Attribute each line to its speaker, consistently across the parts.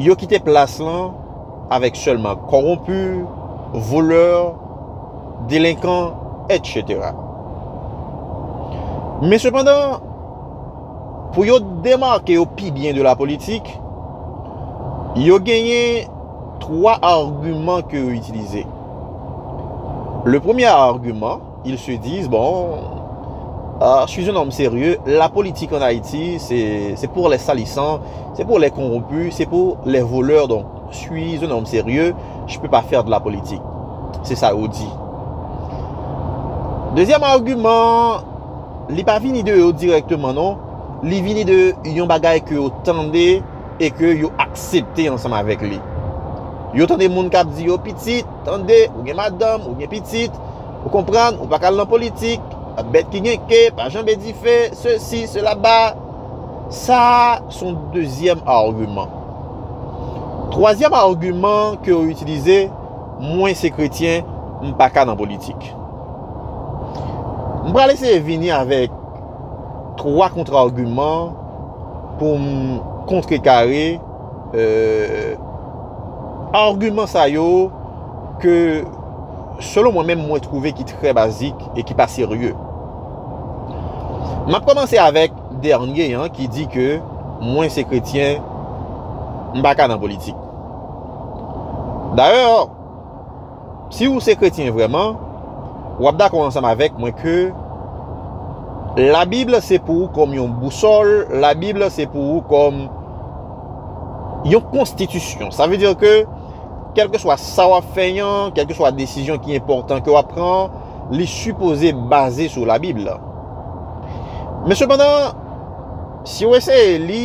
Speaker 1: yo kite plas lan avèk sèlman kowonpi, volè, delenkan, etc. Men sepandan, pou yo demake yo pi byen de la politik, yo genyen 3 agiman ke yo itilize. Le premye agiman, Ils se disent bon je suis un homme sérieux la politique en Haïti c'est pour les salissants, c'est pour les corrompus, c'est pour les voleurs donc je suis un homme sérieux je ne peux pas faire de la politique c'est ça yo dit deuxième argument li pa vini de yo directement non li vini de yon bagay que yo tende et que yo accepte ensemble avec li yo tende moun kap di yo pitit Tande, ou gen madanm, ou gen pitit, ou konprann, ou pa ka al nan politik, bèt ki gen ke pa janbe dife, sesi, sela ba. Sa a son dezyèm agiman. Twazyèm agiman ke yo itilize, mwen se kretyen, m pa ka nan politik. M pral eseye vini avèk twa kontra agiman pou m kontrekare. Argument sa yo ke selon mwen menm mwen trouve ki trè bazik e ki pa serye. Map komanse avèk dènye an ki di ke mwen se kretyen m pa ka nan politik. Dayè. Si ou se kretyen vrèman, ou ap dakò ansanm avèk mwen ke Labib la se pou ou kòm yon bousòl, Labib la se pou ou kòm yon konstitisyon. Sa vle di ke kèlkeswa sa w ap fè an, kèlkeswa desizyon ki enpòtan ke w ap pran an, li sipoze baze sou Labib la. Men sepandan, si ou eseye li,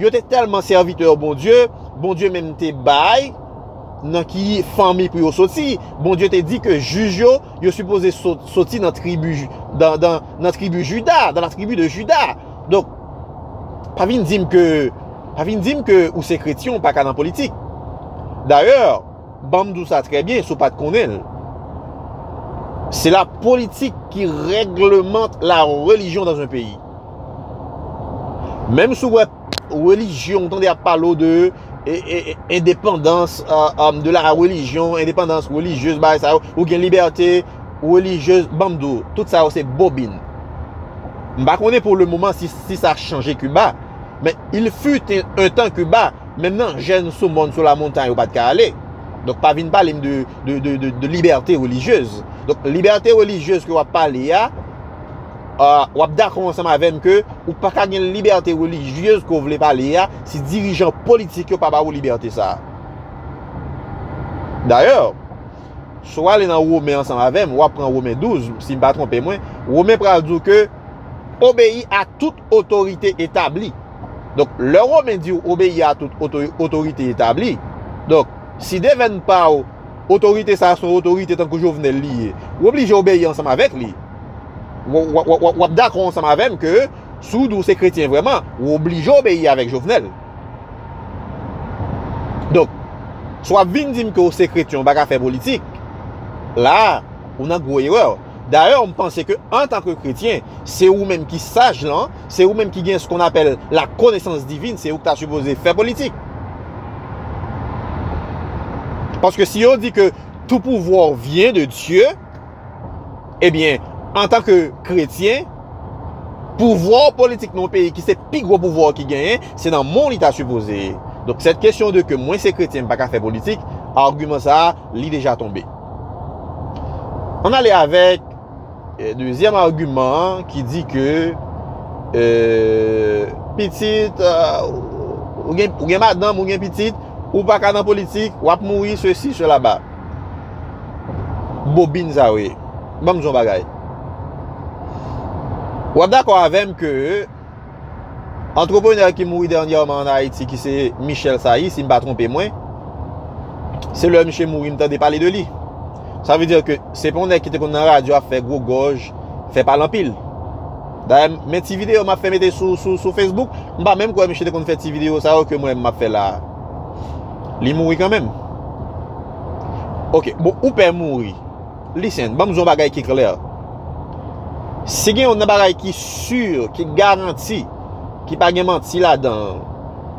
Speaker 1: Yo te tèlman sèvitè Bondye, Bondye menm te bay nan ki fanmi pou yo soti. Bondye te di ke jij yo, yo sipoze soti nan tribi Juda, dans la tribu de Juda. Donk, pa vin di m ke, pa vin di m ke ou se kretyen ou pa ka nan politik. Dayè, ban m di w sa trè byen si w pa t konnen l. Se la politik ki reglemente la relijyon dans un peyi. Menm sou wè relijyon, ou tande ap pale w de endepandans de la relijyon, endepandans relijyez bagay sa yo, ou gen libète relijyez, ban m di w, tout sa yo se bobin. M pa konnen pou le moman si sa chanje Kiba, men il fut un tan Kiba, menm nan jèn sou mòn sou la montay ou pa t ka ale. Donk pa vin pale m de libète relijyez. Donk libète relijyez ke w ap pale a, w ap dakò ansanm avè m ke ou pa ka gen libète relijyez ke w vle pale a si dirijan politik yo pa ba ou libète sa a. Dayè, si w ale nan Women ansanm avè m, w ap pran Women 12, si m pa twonpe mwen, Women pral di w ke obeyi a tout otorite etabli. Donk, lè Women di w obeyi a tout otorite etabli, donk, si devèn pa w otorite sa a se yon otorite tankou Jovenel li ye, w oblije obeyi ansanm avèk li. w ap dakò ansanm avè m ke si w di w se kretyen vrèman, ou oblije obeyi avèk Jovenel. Donk, si w ap vin di m ke w se kretyen ou pa ka fè politik, la a, ou nan gwo erè. Dayè, m panse ke antanke kretyen, se ou menm ki saj lan, se ou menm ki gen se kon apèl la konesans divin, se ou ki ta sipoze fè politik. Paske si yo di ke tout pouvwa w vyen de Dye, Ebyen, antan ke kretyen, pouvwa w politik nan yon peyi ki se pi gwo pouvwa w ki genyen, se nan men w li ta sipoze ye. Donk sèt kesyon de ke mwen se kretyen m pa ka fè politik, agiman sa a, li deja tonbe. An n ale avèk dezyèm agiman an ki di ke pitit, ou gen madanm, ou gen pitit, ou pa ka nan politik, w ap mouri, sesi, selaba. bobin sa yo ye. Ban m di w yon bagay. W ap dakò avè m ke antreprenè ki mouri dènyèman an Ayiti ki se Michel Sailly, si m pa twonpe mwen, se lè misye mouri m tande pale de li. Sa vle di ke se pa yon nèg ki te konn nan radyo ap fè gwo gòj, fè pale anpil. Dayè, men ti videyo m ap fè mete sou Facebook, m pa menm kwè misye te konn fè ti videyo sa yo ke mwen menm m ap fè la a. Li mouri kan menm. Ok, bon, ou pè mouri. Listen, banm zon bagay ki klè. Si gen yon nan bagay ki sur, ki garanti, ki pa gen manti la dan,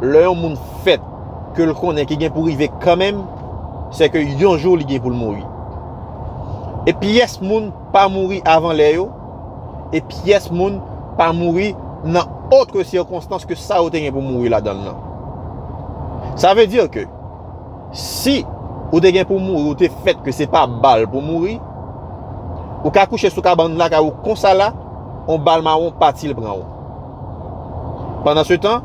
Speaker 1: lè yon moun fèt, ke l konnen ki gen pou rive kan menm, se ke yon jou li gen pou l mouri. E pyès moun pa mouri avan lè yo, e pyès moun pa mouri nan otre sikonstans ke sa yo te gen pou mouri ladan l lan. Sa vle dir ke si ou te gen pou mouri ou te fèt ke se pa bal pou mouri, ou ka kouche sou kabann lakay ou konsa la, yon bal mawon pa til pran ou. Pandan se tan,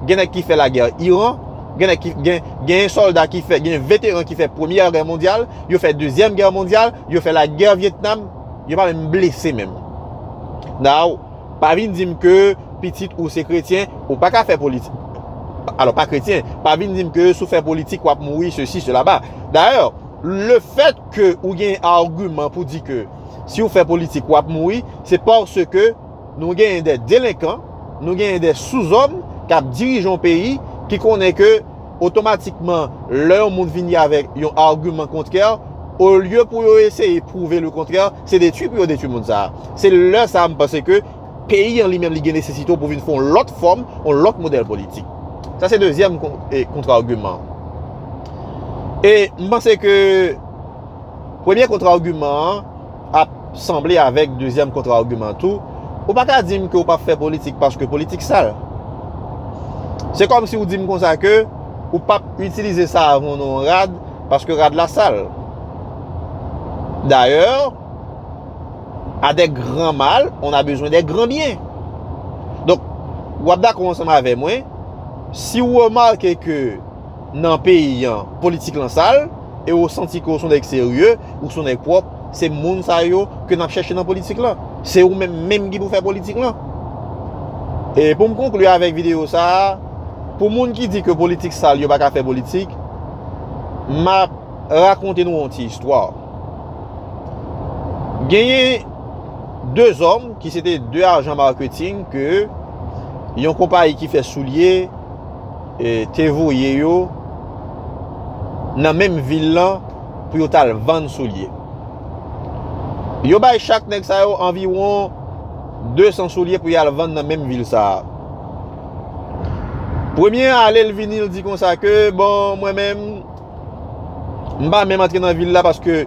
Speaker 1: gen nèg ki fè lagè Iran, gen nèg ki gen gen sòlda ki fè gen veteran ki fè premyè gè mondyal, yo fè dezyèm gè mondyal, yo fè lagè Vietnam, Yo pa menm blese menm. Now, pa vin di m ke pitit ou se kretyen, ou pa ka fè politik. Alò, pa kretyen. Pa vin di m ke si w fè politik w ap mouri sesi sela ba. Dayè, le fèt ke ou gen arguman pou di ke si w fè politik w ap mouri, se paske Nou genyen de delenkan, nou genyen de souzòm kap dirije yon peyi ki konnen ke otomatikman lè yon moun vini avèk yon argument kontrè, olye pou yo eseye pwouve le kontrè, se detwi pou yo detwi moun sa a. Se lè sa a m panse ke peyi an li menm li gen nesesite w pou vin fè yon lòt fòm, yon lòt modèl politik. Sa se dezyèm kontra-argument. E m panse ke premye kontra-argument an, ap sanble avèk dezyèm kontra agiman tou, ou pa ka di m ke ou pap fè politik paske politik sal. Se kòm si ou di m konsa ke ou pap itilize savon nan yon rad paske rad la sal. Dayè, a dè gran mal, on a bezwen dè gran byen. Donk, wap dakò ansanm avè mwen, si ou remake ke nan peyi an politik lan sal e ou santi ke ou son nèg serye, ou son nèg pwòp, se moun sa yo ke nap chèche nan politik lan. Se ou menm menm ki pou fè politik lan. E pou m konkli avèk videyo sa a, pou moun ki di ke politik sal yo pa ka fè politik, map rakonte nou yon ti istwa. Genyen 2 zòm ki se te 2 ajan marketing ke yon konpayi ki fè soulye, te voye yo nan menm vil lan pou yo t al vann soulye. Yo bay chak nèg sa yo anviwon 200 soulye pou y al vann nan menm vil sa a. Premye a ale l vini l di konsa ke, bon mwen menm, m pa menm antre nan vil la paske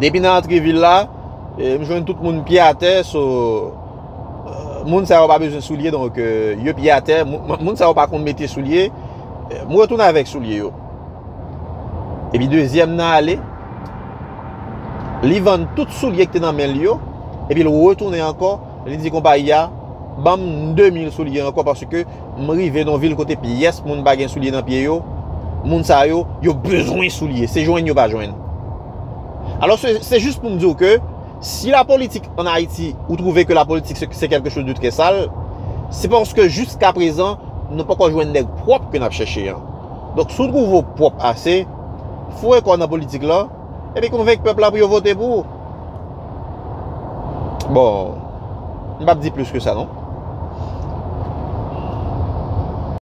Speaker 1: depi nan antre vil la, m jwenn tout moun pye atè so. Moun sa yo pa bezwen soulye donk yo pye atè. Moun sa yo pa konn mete soulye. Mwen retounen avèk soulye yo. Epi dezyèm nan ale. Li vann tout soulye ki te nan men li yo. Epi l retounen ankò. Li di konpayi a. Ban m 2000 soulye ankò. Paske m rive nan vil kote pyès moun pa gen soulye nan pye yo. Moun sa yo, yo bezwen soulye. Se jwenn yo pa jwenn. Alò se jis pou m di w ke. Si la politik an Ayiti, ou trouve ke la politik se kelke choz de trè sal, se paske jiska prezan, nou poko jwenn nèg pwop ke nap chèche an. Donk si w trouve w pwop ase, foure kò w nan politik lan, epi konvenk pèp la pou yo vote pou ou. Bon, m pap di plis ke sa non.